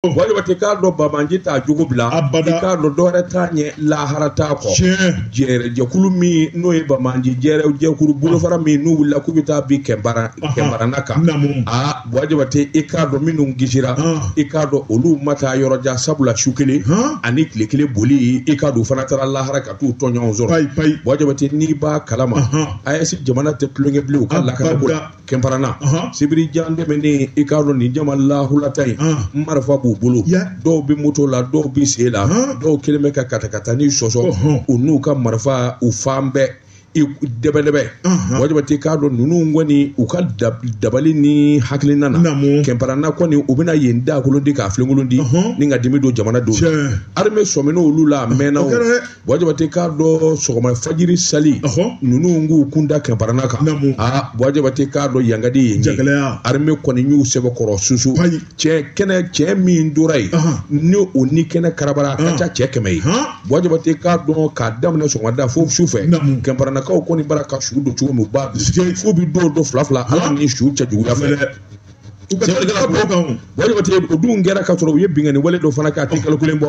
Buwajabate k'a dɔn banbaanci t'a jogo bila abada i k'a dɔn dɔwɛrɛ t'a ɲɛ lahara t'a kɔ jɛrɛ jɛkulu min n'o ye banbaanci jɛrɛ jɛkulu bolofara min n'u wulila k'u bɛ taa bin kɛnparana kan aa Buwajabate i k'a dɔn minnu kisira i k'a dɔn olu ma taa yɔrɔ jan sabula su kelen ani tile kelen boli i k'a dɔn fana taara lahara ka t'u tɔɲɔgɔn sɔrɔ Buwajabate n'i b'a kalama AES jamana tɛ tulonkɛ bilen u ka lakana ko la kɛnparana sibiri jan tɛmɛnen i k'a dɔn nin jama lahulata ye marifa b'u bolo dɔw bɛ moto la dɔw bɛ sen la dɔw kɛlen bɛ ka katakatanin sɔsɔ u n'u ka marifa u fan bɛɛ dɛbɛdɛbɛ Buwajabate k'a dɔn ninnu kɔni u ka dabali ni hakilina na kɛnparana kɔni u bɛna yen daakolon ti k'a filenkolon ti ni ka dimi don jamana don armée sɔmin'olu la a mɛnna o Buwajabate k'a dɔn sɔgɔma fajiri sali ninnu k'u kun da kɛnparana kan aa Buwajabate k'a dɔn yankadi ye jagɛlɛya armée kɔni y'u sɛbɛkɔrɔ susu cɛ kɛnɛ cɛ min tora yen ni o ni kɛnɛ karabara a ka ca cɛ kɛmɛ ye Buwajabate k'a dɔn k'a daminɛ sɔgɔmada fo sufɛ kɛnparanakaw kɔni bara ka su don cogo min u b'a f'u bɛ dɔ don fila fila a la nin su ca juguya fɛ u ka tigɛ ka bɔ kan o Buwajabate o dun kɛra ka sɔrɔ u ye binkanni wale dɔ fana kɛ a tɛ kalo kelen bɔ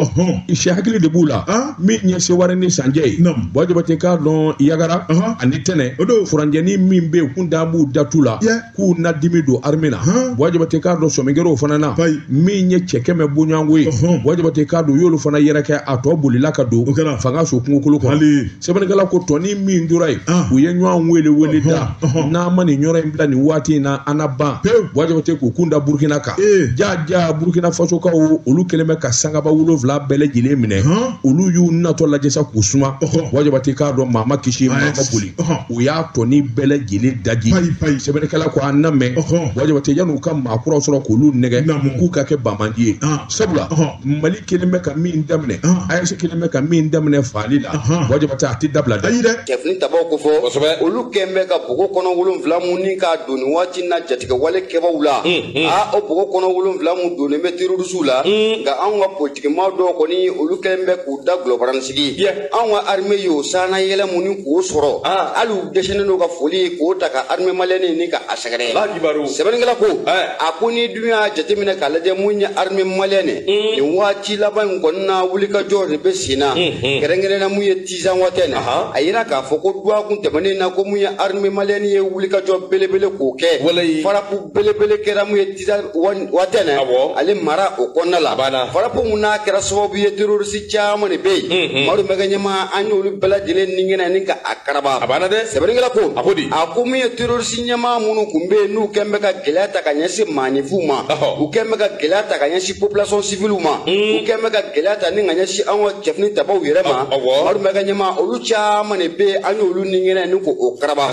sɛ hakili de b'u la min ye sewarɛ ni san cɛ ye Buwajabate k'a dɔn yagara ani tɛnɛ o don furancɛnin min bɛ yen kun da b'u da tu la k'u na dimi don arime na Buwajabate k'a dɔn sɔmi kɛr'o fana na min ye cɛ kɛmɛ bɔɲɔgɔnko ye Buwajabate k'a dɔn u y'olu fana yɛrɛkɛ a tɔ bolila ka don fangaso kungokolo kɔnɔ sɛbɛnnikɛla ko tɔnin min tora yen ah. u ye ɲɔgɔn welewele da n'an ma nin yɔrɔ in bila nin waati in na an na ban Buwajabate k'u kun da burukina kan eh. ja ja burukina fasokaw olu kɛlen bɛ ka sangaba wolonwula bɛɛ lajɛlen minɛ olu y'u natɔ lajɛ sa k'u suma Buwajabate k'a dɔn maa ma kisi maa ma boli u y'a tɔnin bɛɛ lajɛlen daji sɛbɛnnikɛla ko an na mɛn Buwajabate yann'u ka maakuraw sɔrɔ k'olu nɛgɛ k'u ka kɛ banbaanci ye ah. sabula mali kɛlen bɛ ka min daminɛ AES kɛlen bɛ ka min daminɛ faali la Buwajabate a tɛ dabila dɛ ayi dɛ cɛfini tabaw ko fɔ kosɛbɛ olu kɛn bɛ ka bogo kɔnɔ wolonfila mun ni k'a don nin waati na jatigɛwalekɛbaw la a o bogo kɔnɔ wolonfila mun donnen bɛ terɔrisiw la nka anw ka politikimaa dɔw kɔni olu kɛn bɛ k'u dagolo baran sigi anw ka arime y'o saana yɛlɛ mun ni k'o sɔrɔ hali u dɛsɛlen don ka foli k'o ta ka arime maliyɛni ni ka sɛgɛrɛ Ala kibaru. sɛbɛnnikɛla ko Ɛɛ. a ko n'i dun y'a jateminɛ k'a lajɛ mun ye armée malienne ye nin waati laban in kɔnɔna wulikajɔ de bɛ sen na kɛrɛnkɛrɛnna mun ye tinzawatɛnɛ Ahan. a yira k'a fɔ ko duwakun tɛmɛnen na ko mun ye armée malienne ye wulikajɔ belebele k'o kɛ Walayi. farapu belebele kɛra mun ye tinzawatɛnɛ Awɔ. ale mara o kɔnɔna la A banna. farapu mun n'a kɛra sababu ye terroriste caman de bɛ yen madu bɛɛ ka ɲɛmaa an y'olu bɛɛ lajɛlen ninkɛnɛ ni ka a karaba A banna dɛ. sɛbɛnnikɛla ko A ko di? a ko mun ye terroriste ɲɛmaa minnu tun bɛ yen n'u kɛn bɛ ka gɛlɛya ta ka ɲɛsin maaninfinw ma u kɛn bɛ ka gɛlɛya ta ka ɲɛsin population civile ma hmm. u kɛn bɛ ka gɛlɛya ta ni ka ɲɛsin an ka cɛfini tabaw yɛrɛ ma madu bɛ ka ɲɛmaa olu caman de bɛ yen an y'olu nin ɲɛɲini k'o karaba